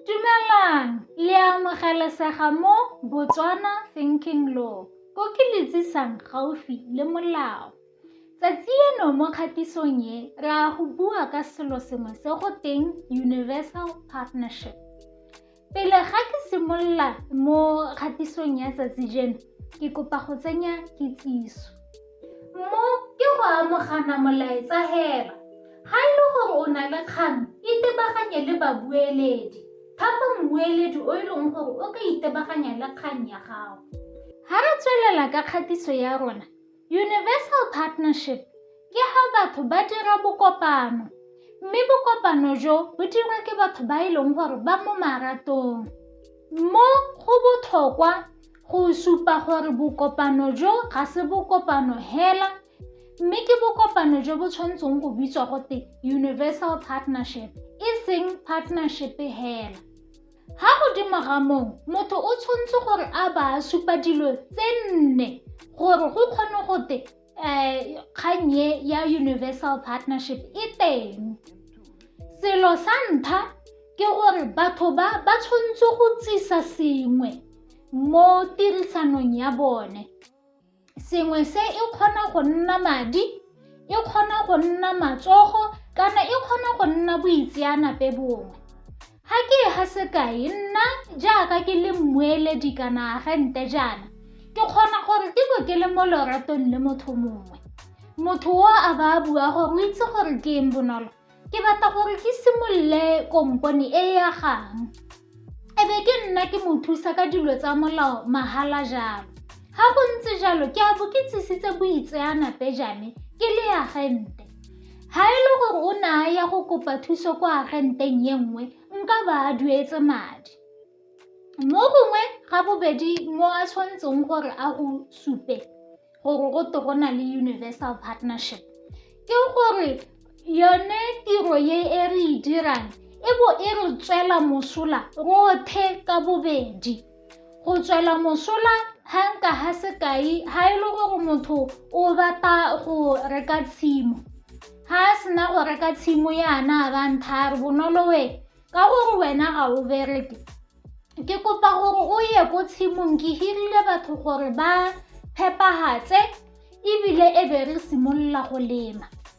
Dumelang! Le a amogelesega mo Botswana Thinking Law, ko ke le tsisang gaufi le molao. Tsatsi eno mo kgatisong e, re a go bua ka selo sengwe se go teng Universal Partnership. Pele ga ke simolola mo kgatisong ya tsatsi jeno, ke kopa go tsenya kitsiso. Mo ke go amogana molaetsa hela. Ha e le gore o na le kgang, itebaganye le babueledi. Thapa mmueledi o e leng gore o ka itebaganya le kgang ya gago. Ha re tswelela ka kgatiso ya rona, Universal Partnership ke ha batho ba dira bokopano mme bokopano jo bo dirwa ke batho ba e leng gore ba mo maratong. Mo go botlhokwa Go supa gore bokopano jo ga se bokopano hela mme ke bokopano jo bo tshwanetseng go bitswa gote universal partnership e seng partnership hela ga godimo ga moo motho o tshwanetse gore a ba a supa dilo tse nne gore go kgone gote um kgang e ya universal partnership e teng selo sa ntlha ke gore batho ba ba tshwanetse go tsisa sengwe mo tirisanong ya bone sengwe se e kgona go nna madi e kgona go nna matsogo kana e kgona go nna boitseanape bongwe Ga ke e ga sekai, nna jaaka ke le mmueledi kana agente jaana, ke kgona gore ke bo ke le mo loratong le motho mongwe. Motho o a ba a bua gore o itse gore ke eng bonolo. Ke batla gore ke simolole kompone e ya gang. E be ke nna ke mo thusa ka dilo tsa molao mahala jalo. Ga go ntse jalo, ke a bo ke tsisitse boitseanape jame ke le agente. Ga e le gore o ne a ya go kopa thuso kwa agenteng ye nngwe, nka ba a duetse madi. Mo gongwe ga bobedi mo a tshwanetseng gore a go supe gore go to go na le universal partnership ke gore yone tiro ye e re e dirang e bo e re tswela mosola rothe ka bobedi. Go tswela mosola ga nka ga sekai ga e le gore motho o batla go reka tshimo ga a sena go reka tshimo yana a ba nthare bonolo we ka gore wena ga o bereke ke kopa gore o ye ko tshimong ke hirile batho gore ba phepagatse ebile e be re simolola go lema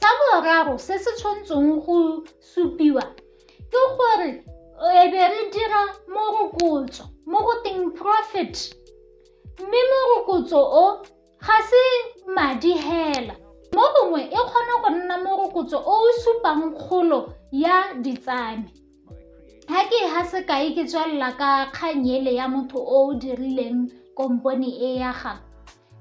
sa boraro se se tshwantseng go supiwa ke gore e be re dira morokotso mo go teng profit mme morokotso o ga se madi hela mo gongwe e kgona go nna morokotso o o supang kgolo ya ditsame Ha ke ha sekai ke tswelela ka kgang ele ya motho o o dirileng kompone e ya ga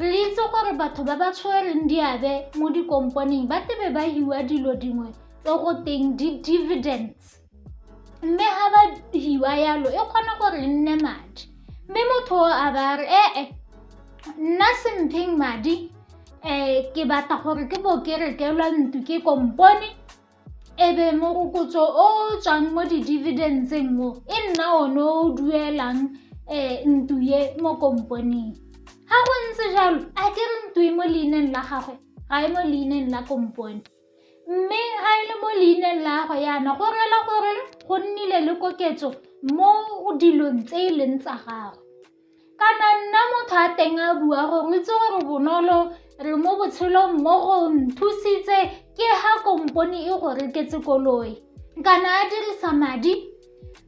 re itse gore batho ba ba tshwereng diabe mo dikomponeng ba tebe ba hiwa dilo dingwe tse go teng di-dividends mme ga ba hiwa yalo e kgona gore e nne madi mme motho o a ba re ee nna sempheng madi um ke batla gore ke bo ke rekelwa ntlo ke kompone e be morokotso o o tswang mo di-dividentseng mo e nna one o duelang um ntlo ye mo komponeng ga go ntse jalo a ke re ntlo e mo leineng la gagwe ga e mo leineng la kompone mme ga e le mo leineng la gagwe yana go rela gore go nnile le koketso mo dilong tse e leng tsa gagwe kana nna motho a teng a bua gore o itse gore bonolo re mo botshelong mo go nthusitse ke ha kompone e go reketse koloi kana a dirisa madi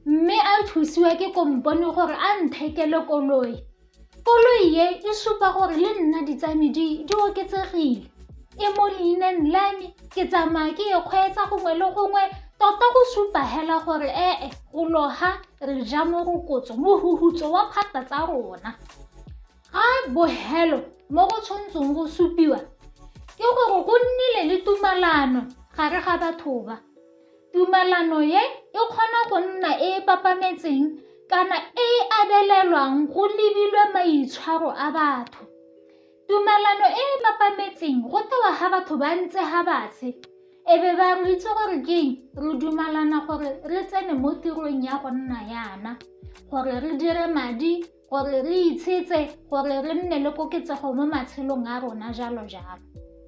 mme a thusiwa ke kompone gore a nthekele koloi koloi e e supa gore le nna ditsame di di oketsegile e mo leineng la me ke tsamaya ke e kgweetsa gongwe le gongwe tota go supa hela gore ee go loga re ja morokotso mohugutso wa phata tsa rona ga bohelo mo go tshwantseng go supiwa ke gore go nnile le tumalano gare ga batho ba tumalano ye e kgona go nna e e papametseng kana e e abelelwang go lebilwe maitshwaro a batho Tumalano e e mapametseng go tewa ga batho ba ntse ga batshe e be ba re itse gore keng re dumalana gore re tsene mo tirong ya go nna yana gore re dire madi gore re itshetse gore re nne le koketsego mo matshelong a rona jalo jalo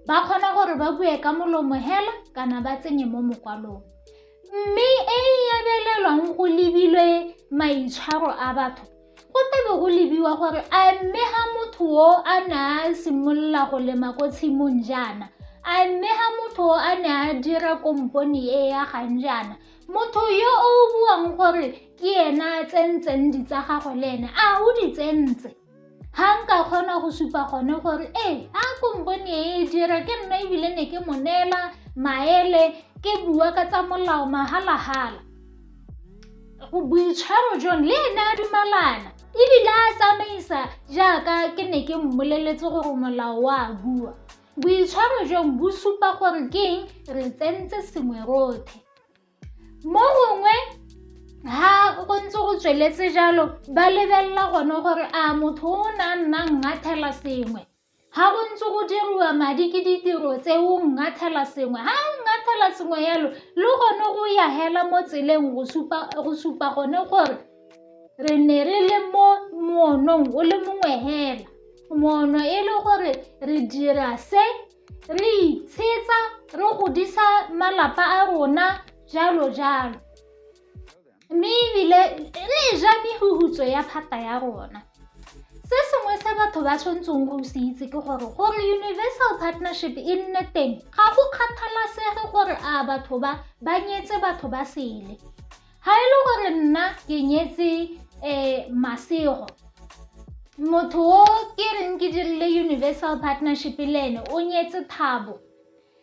ba kgona gore ba bue ka molomo hela kana ba tsenye mo mokwalong mme e e abelelwang go lebilwe maitshwaro a batho go tlabe go lebiwa gore a mme ga motho o a ne a simolola go lema ko tshimong jaana a mme ga motho o a ne a dira kompone e ya gang jaana motho yo o buang gore ke ena a tsentseng di tsa gagwe le ene a o di tsentse ga nka kgona go supa gone gore ee a kompone e e dira ke nna ebile ne ke mo neela maele ke bua ka tsa molao magalagala boitshwaro jone le ene a dumalana ebile a tsamaisa jaaka ke ne ke mmoleletse gore molao wa a bua boitshwaro jong bo supa gore ke eng re tsentse sengwe rothe mo gongwe ha go ntse go tsweletse jalo ba lebelela gone gore a motho o ne a nnang ngathela sengwe Ga go ntse go diriwa madi ke ditiro tse o ngathela sengwe ga o ngathela sengwe yalo le gone o ya hela mo tseleng go supa gone gore re ne re le mo moonong o le mongwe hela moono e le gore re dira se re itshetsa re godisa malapa a rona jalo jalo mme ebile le e ja mehutso ya phata ya rona se sengwe se batho ba tshwanetseng go se itse ke gore gore universal partnership e nne teng ga go kgathalasege gore a batho ba ba nyetse batho ba sele ga e le gore nna ke nyetse um masego motho o ke reng ke dirile universal partnership le ene o nyetse thabo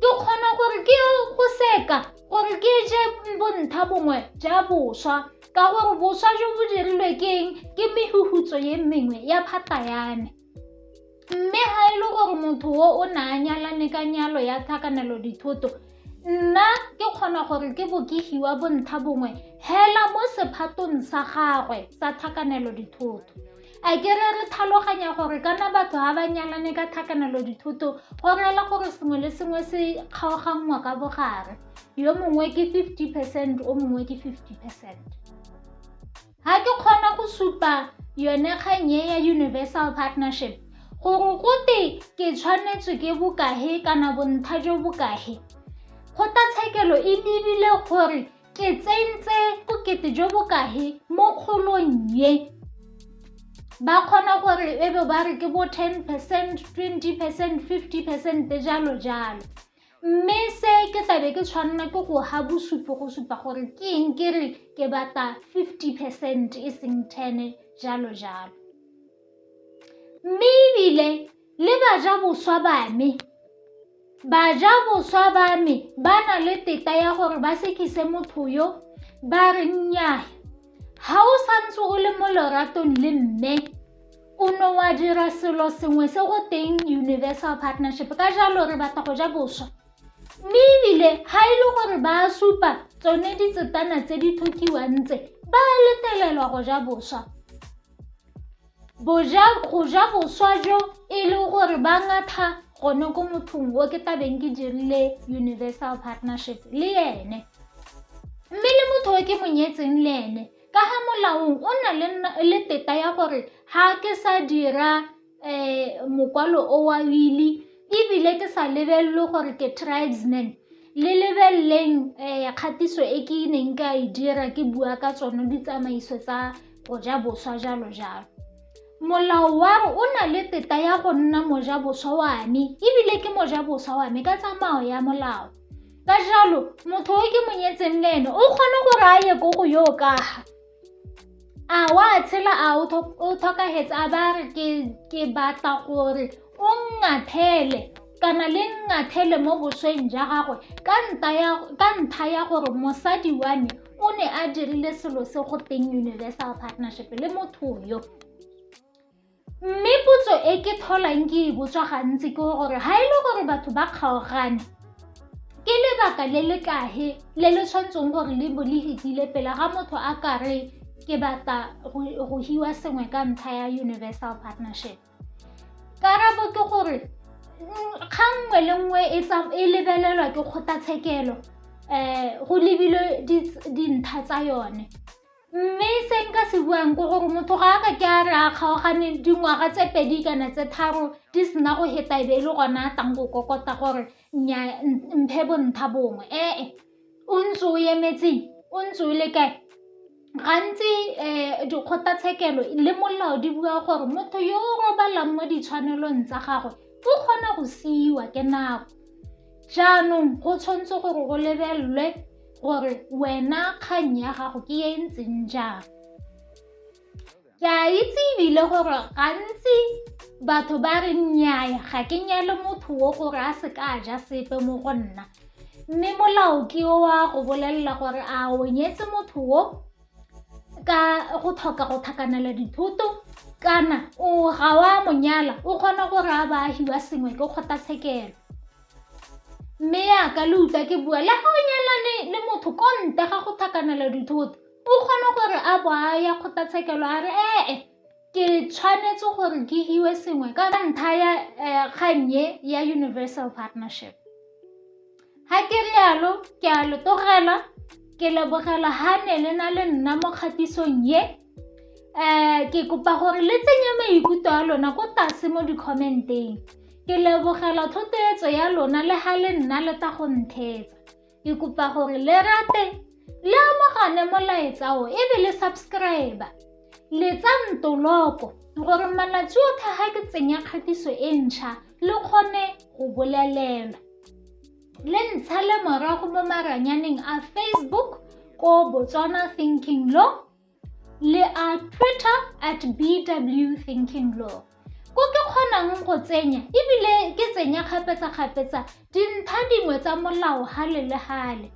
Ke kgona gore ke go seka gore ke je bontha bongwe ja boswa ka gore boswa jo bo dirilwe ke eng ke mehutso ye mengwe ya phata ya me mme ga e le gore motho o o ne a nyalane ka nyalo ya tlhakanelo dithoto nna ke kgona gore ke bo ke hiwa bontha bongwe hela mo sephatong sa gagwe sa tlhakanelo dithoto A ke re re tlhaloganya gore kana batho ga ba nyalane ka tlhakanelo dithoto go reela gore sengwe le sengwe se kgaoganngwa ka bogare yo mongwe ke 50 percent o mongwe ke 50 percent ga ke kgona go supa yone kganye ya universal partnership gore gote ke tshwanetswe ke bokahe kana bontlha jo bokahe kgotlatshekelo e lebile gore Ke tsentse bokete jo bo kahe mo kgolong ye? Ba kgona gore e be ba re ke bo 10 percent, 20 percent, 50 percent, jalo jalo. Mme se ke tlabe ke tshwanela ke go ha bosupi go supa gore ke eng ke re ke batla 50 percent e seng 10 jalo jalo. Mme ebile Le bajaboswa ba me. Bajaboswa ba me ba na le teta ya gore ba sekise motho yo, ba re nnyaa. Ga o santse o le mo loratong le mme, o ne wa dira selo sengwe se go teng universal partnership, ka jalo re batla go ja boswa. Mme ebile ga e le gore ba supa tsone ditsetana tse di tlhokiwang tse, ba letlelelwa go ja boswa. Boja, go ja boswa jo e le gore ba ngatha gone ko mothong o ke tabeng ke dirile universal partnership le ene mme le motho o ke monyetseng le ene ka ga molaong o na le, le teta ya gore ga ke sa dira um mokwalo o wa wili ebile ke sa lebelele gore ke tribesman le lebeleleng um kgatiso e ke neng ka e dira ke bua ka tsone ditsamaiso tsa go ja boswa jalo jalo molao wa o na le teta ya go nna moja boswa wa me ebile ke moja boswa wa me ka tsamao ya molao ka jalo motho o ke monyetseng le ene o kgone gore a ye ko go yo kaga a wa tshela a o tlhokagetse a ba re ke batla gore o ngathele kana le ngathele mo bosweng ja gagwe ka ntlha ya gore mosadi wa me o ne a dirile selo se go teng universal partnership le motho yo mme potso e ke tlholang ke e botswa gantsi ke gore ga e le gore batho ba kgaogane ke lebaka le le kahe le le tshwanetseng gore le bo le letile pele ga motho a kare ke batla go hiwa sengwe ka ntlha ya universal partnership karabo ke gore mm, kgang nngwe le nngwe e, e lebelelwa ke kgotlatshekelo um go lebilwe dintlha tsa yone mme se nka se buang ke gore motho ga a ka ke a re a kgaogane dingwaga tse pedi kana tse tharo di sena go heta e be e le gona a tlang go kokota gore mphe bontha bongwe ee o ntse o emetseng o ntse o le kae gantsi um dikgotlatshekelo le molao di bua gore motho yo o robalang mo ditshwanelong tsa gagwe o kgona go siiwa ke nako jaanong go tshwanetse gore go lebelelwe gore wena kgang ya gago ke e ntseng jang Ke a itse ebile gore gantsi batho ba re nnyaya ga ke nyale motho o gore a se ka ja sepe mo go nna mme molao ke o wa go bolelela gore a o nyetse motho o ka go tlhoka go tlhakanela dithoto kana o ga wa monyala o kgona gore a baagi wa sengwe ke kgotlatshekelo mme yaka le utlwa ke bua le ga o nyalane le motho ko ntle ga go tlhakanela dithoto O kgona gore a bo a ya kgotlatshekelo a re ee ke tshwanetse gore ke hiwe sengwe ka ntlha ya kgannye ya universal partnership ga ke rialo ke a lo tlogela ke lebogela ga ne le na le nna mo kgatisong ye um ke kopa gore le tsenye maikutlo a lona ko tlase mo di-comment-eng ke lebogela thotloetso ya lona le ga le nna le tla go ntheetsa Ke kopa gore le rate le amogane molaetsa o e be le subscribe le tsa ntoloko gore malatsi otlhe ga ke tsenya kgatiso e ntšha le kgone go bolelelwa le ntsha le morago mo maranyaneng a facebook ko botswana thinking law le a twitter at bw thinking law ko ke kgonang go tsenya ebile ke tsenya kgapetsa-kgapetsa dintlha dingwe tsa molao gale le gale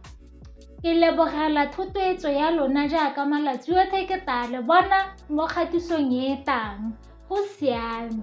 ke lebogela thotloetso ya lona jaaka malatsi otlhe ke tla le bona mo kgatisong e tang go siame